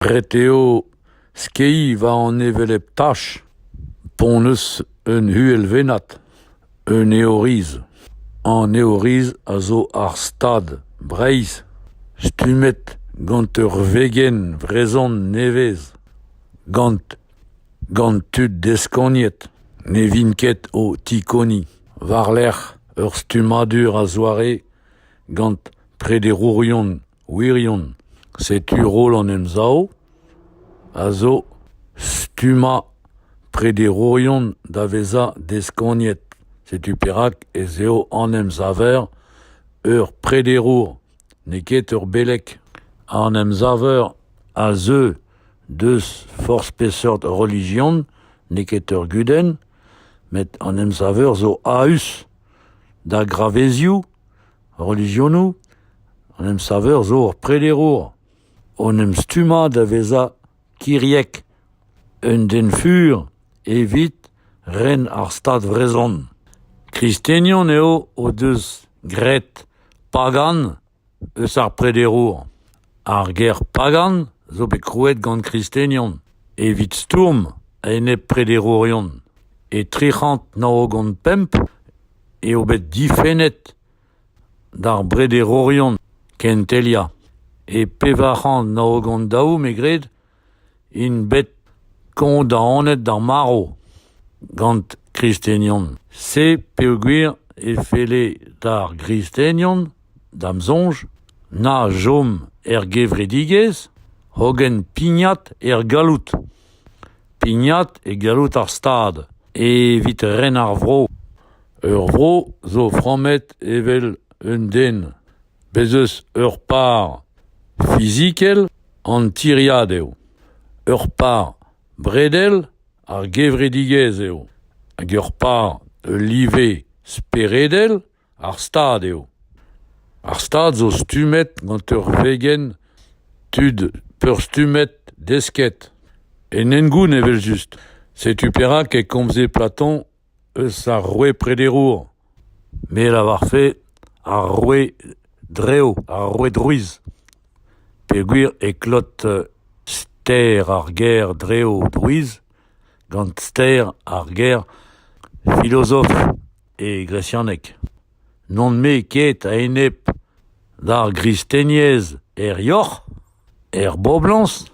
Ret eo skeiñ war an hevelep tach ponez un uhelvennad, un eoriz. An eoriz a zo ar stad Breizh stummet gant ur vegenn vrezhon nevez, gant gant tud deskoniet ne vint ket o tikoniñ war-lerc'h ur stummadur a-zoare gant prederourion. Wirion, setu roll an Emsav a zo stummañ prederourion da vezañ deskoniet. Setu perak ez eo an Emsaver ur prederour, n'eo ket ur beleg. An Emsaver a zeu deus forzh peseurt relijion, n'eo ket ur gudenn, met an Emsaver zo a-us da gravezioù Relijionoù an emsaver zo ur prederour o'n em stummañ da vezañ kiriek, un den fur evit ren ar Stad vrezhon. Kristenion eo o deus graet pagan eus ar prederour. Ar ger pagan zo bet krouet gant kristenion evit stourm a-enep prederourion. E tri c'hant nav-ugent pemp eo bet difennet d'ar brederourion kenteliañ. E pevar c'hant nav-ugent daou, me gred, int bet kondaonet d'ar marv gant kristenion se peogwir e felle d'ar gristenion da'm soñj na chom er gevredigezh hogen pignat er galloud pignat e galloud ar stad evit ren ar vro ur vro zo frammet evel un den Bez' eus ur par fizikel an tiriad eo, ur par bredel ar gevredigezh eo, hag ur par ul live speredel ar Stad eo. Ar Stad zo stummet gant ur vegenn tud peurstummet desket. En hengoun evel-just. Setu perak e komze Platon eus ar roue prederour, me a lavarfe ar roue drev, ar roue drouiz, peogwir e klot ster ar ger drev drouiz gant ster ar ger filozof e gresianeg. N'on-me ket a-enep d'ar gristeniezh er yoc'h, er boblañs,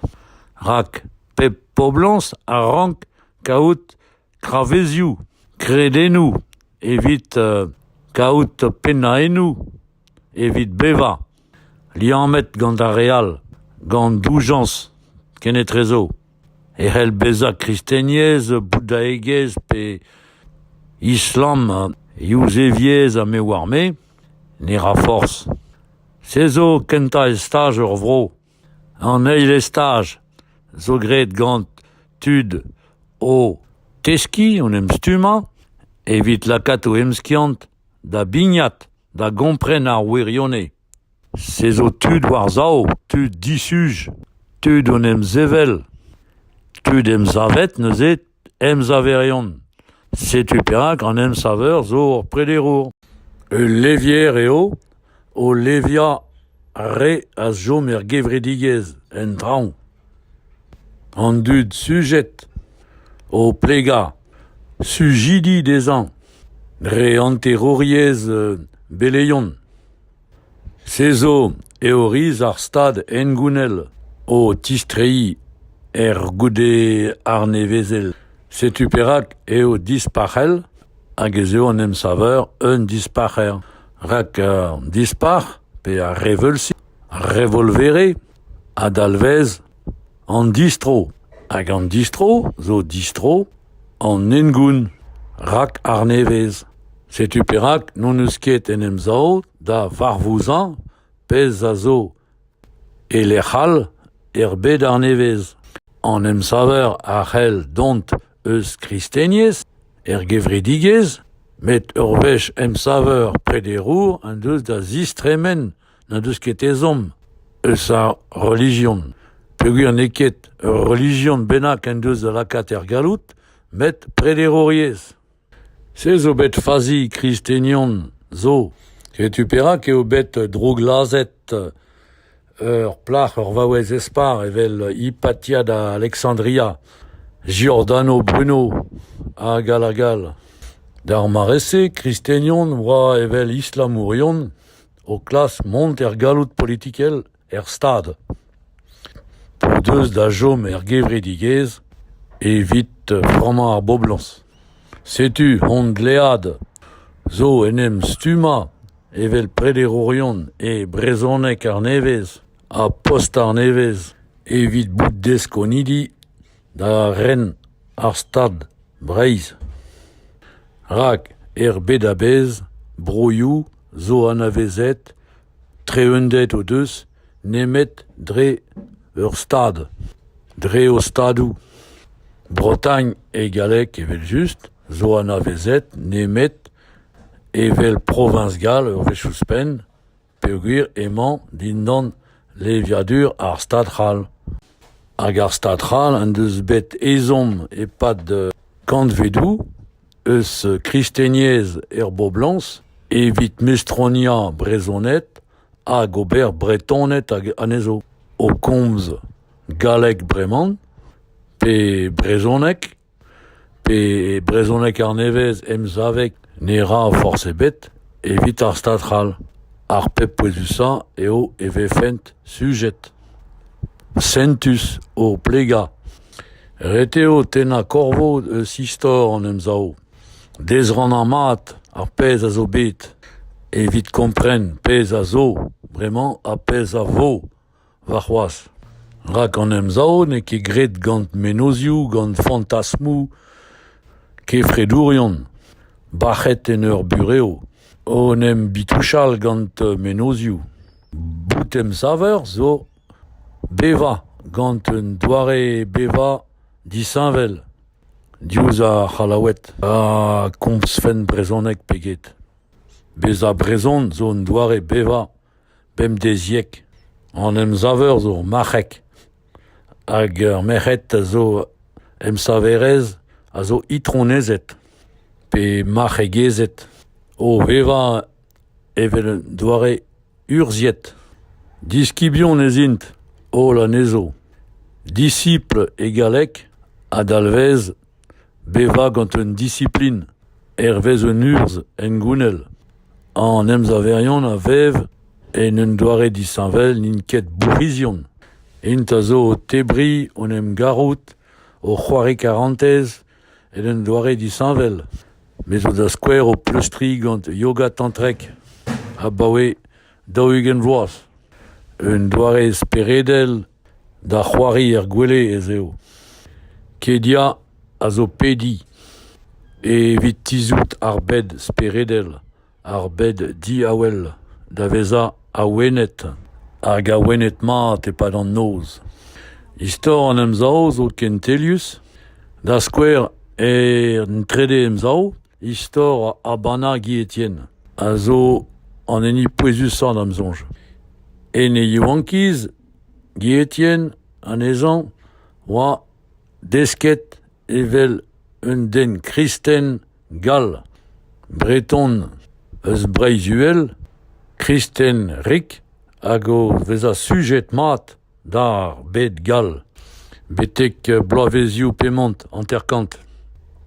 rak pep poblañs a rank kaout travezioù, kredennoù evit kaout pennaennoù evit bevañ, liammet gant ar re all, gant doujañs kenetrezo, e c'hell bezañ kristenyezh, boudaegezh pe islam yuzeviezh ha me oar-me, ne ra forzh. Se zo kentañ estaj ur vro. An eil estaj zo graet gant tud o teskiñ en em stummañ evit lakaat o emskiant da bignat da gompren ar wirionez. Se zo tud war-sav, tud disuj, tud en em sevel, tud emsavet neuze. emsaverion. Setu perak an emsaver zo ur prederour. Ul levier eo o leviañ re a chom er gevredigezh en traoñ. An dud sujet o plegañ sujidi dezhañ dre hanterouriezh beleion. Se zo eo riz ar stad hengounel o tistreiñ er goude arnevezel. Setu perak eo dispac'hel hag ez eo an emsaver un dispac'her. Rak an dispac'h pe ar reveulzi, revolvere, a dalvez An distro hag an distro zo distro an hengoun rak arnevez. Setu perak n'hon eus ket en Emsav da varvouzañ pezh a zo e lec'h all er bed arnevez. An emsaver a c'hell dont eus kristenez er gevredigezh met ur wech emsaver prederour en deus da zistremen n'en deus ket ezhomm eus ar relijion peogwir n'eo ket ur relijion bennak en deus da lakaat er galloud met prederouriezh. Se zo bet fazi kristenion zo. Setu perak eo bet drooglazhet ur plac'h, ur vaouez espar evel Hypatia da Alexandria, Giordano Bruno hag all hag all. D'ar mare-se, kristenion oa evel islamourion o klask mont er galloud politikel er Stad, o deus da chom er gevredigezh evit frammañ ar boblañs. Setu hon dlead zo en em stummañ evel prederourion e brezhoneg arnevez ha post arnevez evit bout deskonidi da ren ar Stad Breizh. Rak er bed a-bezh broioù zo anavezet, treunded o deus nemet dre ur Stad, dre o Stadoù. Bretagne e galleg evel-just zo anavezet nemet evel proviñs gall ur wech ouzhpenn, peogwir emañ dindan leviadur ar Stad c'hall. Hag ar Stad c'hall en deus bet ezhomm e-pad kantvedoù eus kristeniezh er boblañs evit mestroniañ brezhoned hag ober Bretoned anezho, o komz galleg breman pe brezhoneg. Pe e brezhoneg arnevez emsavek ne ra forzh ebet evit ar stad c'hall. Ar pep pouezusañ eo e vefent sujet. Sentus o plegañ. Ret eo tennañ korvoad eus istor an Emsav. Dezrannañ mat ar pezh a zo bet evit kompren pezh a zo bremañ ha pezh a vo. Warc'hoazh, rak an Emsav n'eo ket graet gant mennozhioù, gant fantasmoù kefredourion bac'het en ur burev, o en em bitouchal gant mennozhioù. Bout emsaver zo bevañ gant un doare bevañ disheñvel diouzh ar C'hallaoued ha komzfen brezhoneg pe get. Bezañ brezhon zo un doare bevañ Bemdeziek an emsaver zo marc'hek hag ur merc'hed a zo emsaverez a zo itronezed pe marc'hegezed o vevañ evel un doare urzhiet. Diskibion ez int holl anezho, disipl e galleg, a dalvez Bevañ gant un disiplin hervez un urzh hengounel an emsaverion a vev en un doare disheñvel n'int ket bourc'hizion. Int a zo o tebriñ hon emgarout, o c'hoari karantez en un doare disheñvel. Me zo da skouer o pleustriñ gant yoga tantrek abaoe daou-ugent vloaz. Un doare speredel Da c'hoari er gwele ez eo. Kedia a zo pediñ evit tizhout ar bed speredel, ar bed diavel, da vezañ awenet hag awenet mat e-pad an noz. Istor an Emsav zo kentelius, da skouer en Trede Emsav, istor Habana Guilletien a zo an hini pouezusañ da'm soñj. En e yaouankiz Gie-Etienne, anezhañ, oa desket evel un den kristen gall, breton eus Breizh-Uhel, kristen-rik hag o vezañ sujet-mat d'ar bed gall betek bloavezioù pemont hanter-kant.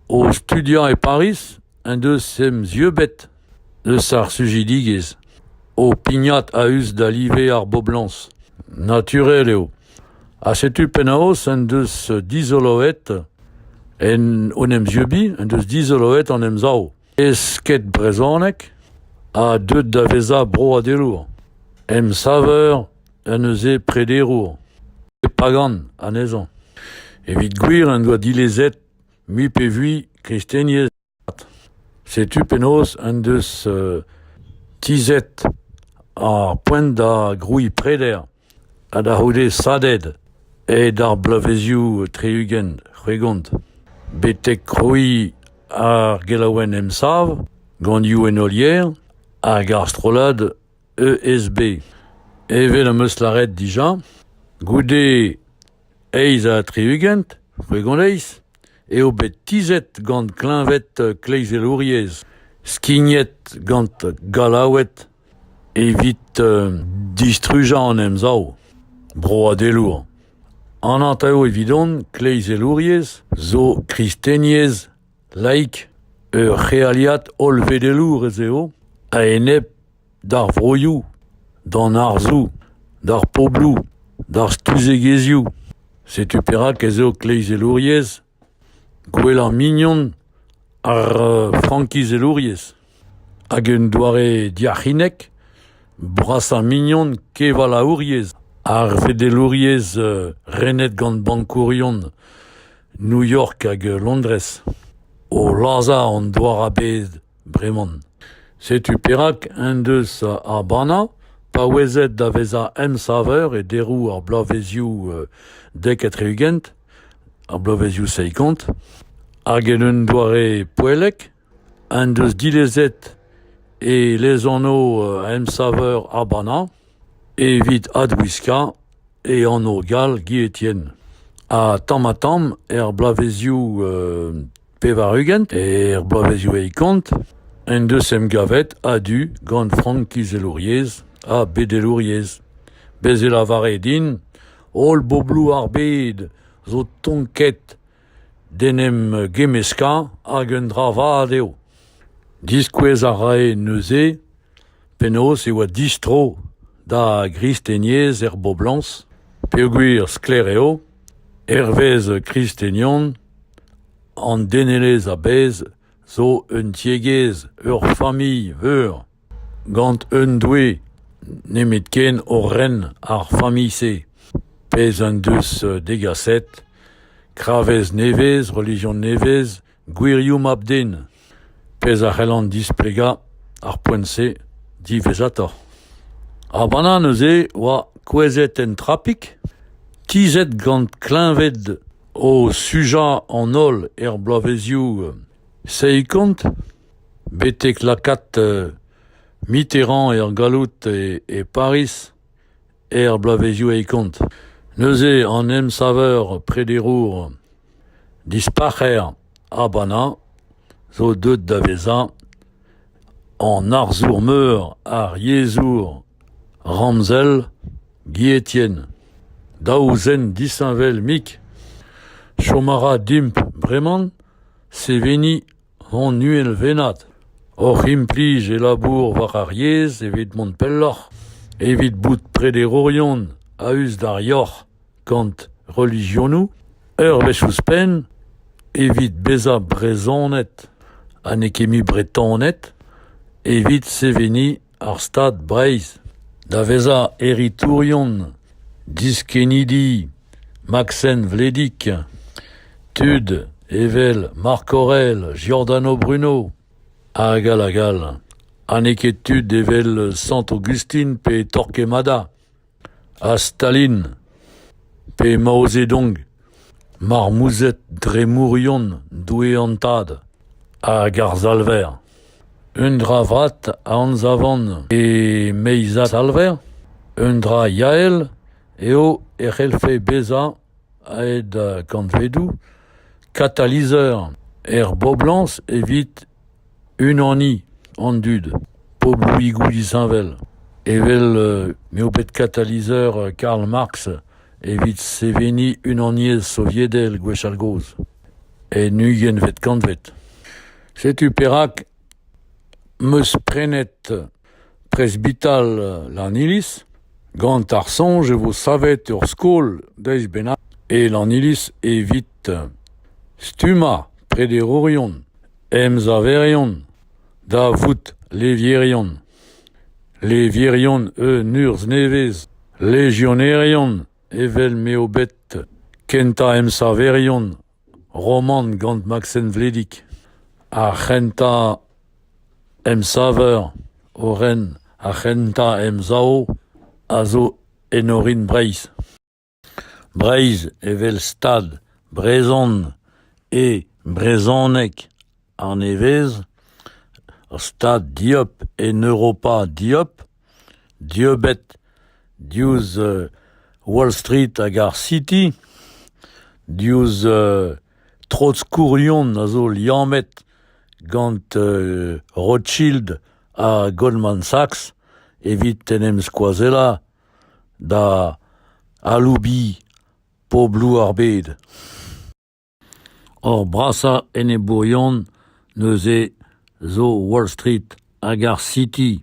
O studiañ e Pariz en deus em zieubet. Eus ar sujidigezh, ho pignat a-us da live ar boblañs. Naturel eo. Ha setu penaos en deus dizoloet en hon emzieubiñ en deus dizoloet an Emsav esked-brezhoneg ha deuet da vezañ broadelour, emsaver en deus e prederour, e pagan anezhañ. Evit gwir en doa dilezet mui pe vui kristeniezh Setu penaos en deus tizhet ar poent da grouiñ preder ha da c'houde SADED aet ar bloavezioù tri-ugent c'hwegont betek krouiñ ar gelaouenn Emsav gant Youenn Olier hag ar strollad ESB. Evel am eus lâret dija, goude Eizh ha tri-ugent, c'hwegondeiz, eo bet tizhet gant kleñved kleizelouriezh, skignet gant Gallaoued evit distrujañ an Emsav broadelour. An anv evidon kleizelouriezh zo kristeniezh laik, ur c'healiad hollvedelour ez eo a-enep d'ar vroioù, d'an arzoù, d'ar pobloù, d'ar stuzegezhioù. Setu perak ez eo kleizelouriezh gwellañ mignon ar frankizelouriezh hag un doare diac'hinek brasañ mignon kevalaouriezh ar vedelouriezh renet gant bankourion New York hag Londrez, o lazhañ an douar a-bezh. Breman, setu perak en deus Habana paouezet da vezañ emsaver e deroù ar bloavezioù dek ha tri-ugent, ar bloavezioù seikant, hag en un doare poellek en deus dilezet e lezanv emsaver Habana. Evit adwiskañ e anv gall Guilletine ha tamm-ha-tamm er bloavezioù pevar-ugent, er bloavezioù eilkant, en deus emgavet a-du gant frankizelouriezh ha bedelouriezh. Bez' e lavare din holl bobloù ar bed zo tonket d'en em gemmeskañ hag un dra vat eo. Diskouez a rae neuze Penaos e oa distro da ar gristeniezh er boblañs peogwir sklaer eo, hervez kristenion, an denelezh a-bezh zo un tiegezh, ur familh veur, gant un doue nemetken o ren ar familh-se, pezh en deus degaset kravez nevez, relijion nevez, Gwirioù mab-den, pezh a c'hellan displegañ ar poent-se diwezhatoc'h. Ar banann neuze oa kouezhet en trapik, tizhet gant kleñved o sujañ an holl er bloavezioù seizh-kant, betek lakaat Mitterrand er galloud e Pariz er bloavezioù eil kant. Neuze an emsaver prederour dispac'her Habana zo deuet da vezañ an arzour-meur ar yezhour ramzel Gietien. Daou zen disheñvel-mik chom a ra dimp bremañ seveniñ An uhelvennad oc'h implij e labour war ar yezh evit mont pelloc'h, evit bout prederourion a-us d'ar yoc'h gant relijionoù, ur wech ouzhpenn evit bezañ brezhonet ha n'eo ket mui Bretoned, evit seveniñ ar Stad Breizh da vezañ heritourion diskennidi Maksen Vledig, tud evel Marc Aurel, Giordano Bruno hag all hag all, ha n'eo ket tud evel Sant-Aogustin pe Torquemada. Ha Stalin ? Pe Mao Zedong ? Marmouzed dremourion doue an tad hag ar Salver. Un dra vat a anzavan e meizad Salver, un dra yael eo e c'hellfe bezañ aet kantvedoù katalizeur er boblañs evit Unaniñ an dud, pobloùigoù disheñvel, evel m'eo bet katalizeur Karl Marx evit seveniñ Unaniezh Soviedel gwechall-gozh, en ugentvet kantved. Setu perak 'm eus prenet Presbital Lanniliz. Gant ar soñj e vo savet ur skol deiz bennak e Lanniliz evit stummañ prederourion, emsaverion, da vout levierion, levierion un urzh nevez, legionerion evel m'eo bet kentañ emsaverion romant gant Maksen Vledig, ar c'hentañ emsaver o ren ar c'hentañ emsav a zo en orin Breizh. Breizh evel stad brezhon e brezhoneg arnevez, ur stad dieub en Europa dieub Dieubet diouzh Wall Street hag ar City, diouzh Trotskourion a zo liammet gant Rothschild ha Goldman Sachs evit en em skoazellañ da aloubiñ pobloù ar bed. Hor brasañ enebourion neuze zo Wall Street hag ar City,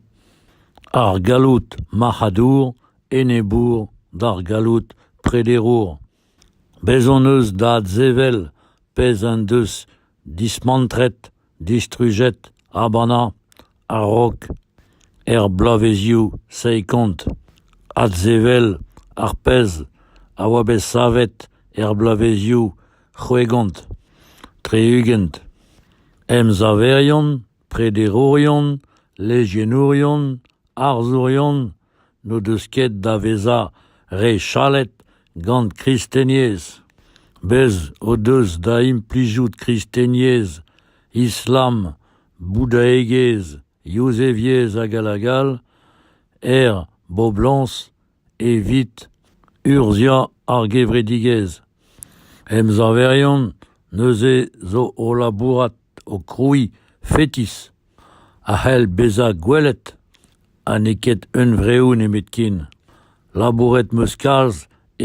ar galloud marc'hadour enebour d'ar galloud prederour. Bez' hon eus da adsevel pezh en deus dismantret distrujet, habannañ, a-raok, er bloavezioù seiz-kant, adsevel ar pezh a oa bet savet er bloavezioù c'hwegont, tri-ugent. Emsaverion, prederourion, lejienourion, arzourion, n'o deus ket da vezañ re chalet gant kristeniezh. Bez' o deus da implijout kristeniezh, islam, boudaegezh, yuzeviezh hag all hag all er boblañs evit urzhiañ ar gevredigezh. Emsaverion neuze zo o labourat o krouiñ fetis a c'hell bezañ gwelet ha n'eo ket hunvreoù nemetken. Labouret 'm eus kalz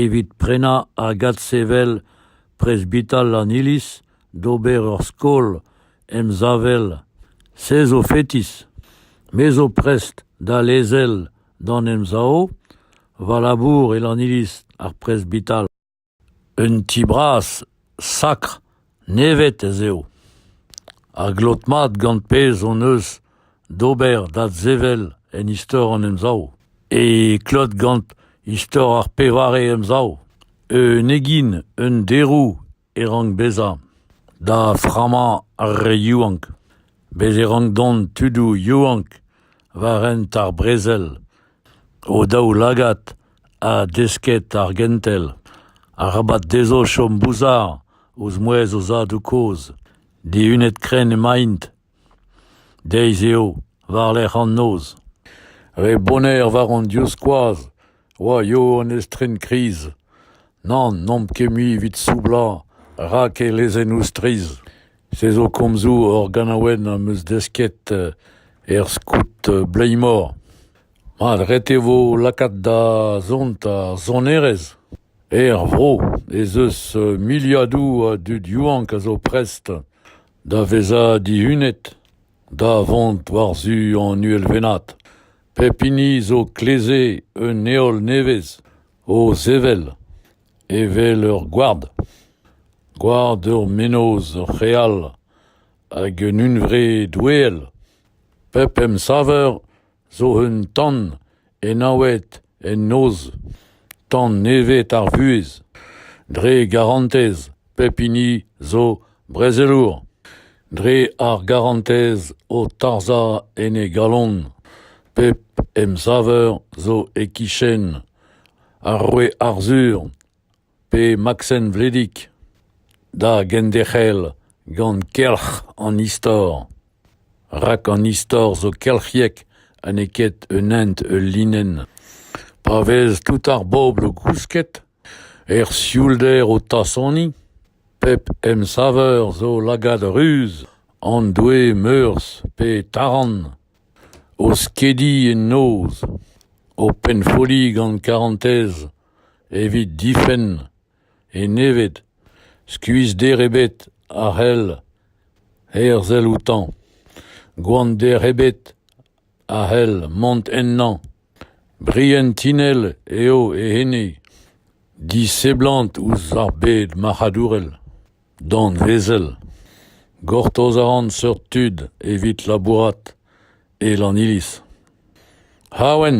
evit prenañ hag adsevel presbital an Iliz d'ober ur skol emsavel. Se zo fetis. Me zo prest da lezel d'an Emsav va labour e an Iliz, ar presbital. Un ti bras, sakr, nevet ez eo. Ar glot mat gant pezh hon eus d'ober d'adsevel en istor an Emsav. E klot gant istor ar pevare Emsav. Un egin, un derou e rank bezañ. Da frammañ ar re yaouank. Bet e rank dont tudoù yaouank war hent ar brezel. O daoulagad ha desket ar gentel. Arabat dezho chom bouzar ouzh mouezh o zadoù kozh. Dihunet-krenn emaint. Deiz eo, war-lerc'h an noz. Re boner war hon divskoaz oa eo an estren kriz. Nann, n'omp ket mui evit soublañ rak e lezennoù strizh. Se zo komzoù hor ganaouenn am eus desket er skout Bleimor. Mat ret e vo lakaat da zont ar sonerezh. Er vro ez eus miliadoù a dud yaouank a zo prest da vezañ dihunet, da vont war-zu an uhelvennad. Pep hini zo kleze un heol nevez o sevel, evel ur gward. Gward ur mennozh real hag un hunvre doueel. Pep emsaver zo un tan enaouet en noz, tan nevez ar vuhez, dre garantez pep hini zo brezelour, dre ar garantez o tarzhañ en e galon, pep emsaver zo e-kichen ar roue Arzhur, pe Maksen Vledig, da genderc'hel gant kelc'h an istor, rak an istor zo kelc'hiek ha n'eo ket un hent ul linenn. Pa vez tout ar bobl o gousket, er sioulder o tasoniñ, pep emsaver zo lagad ruz, an doue meurzh pe taran, o skediñ en noz, o pennfolliñ gant karantez, Evit difenn e-neved, skuizhder ebet a c'hell herzel outañ, gwander ebet a c'hell mont ennañ. Brienn tinell eo e ene, diseblant ouzh ar bed marc'hadourel, danvezel. Gortoz a ran seurt tud evit labourat e Lanniliz. Awen.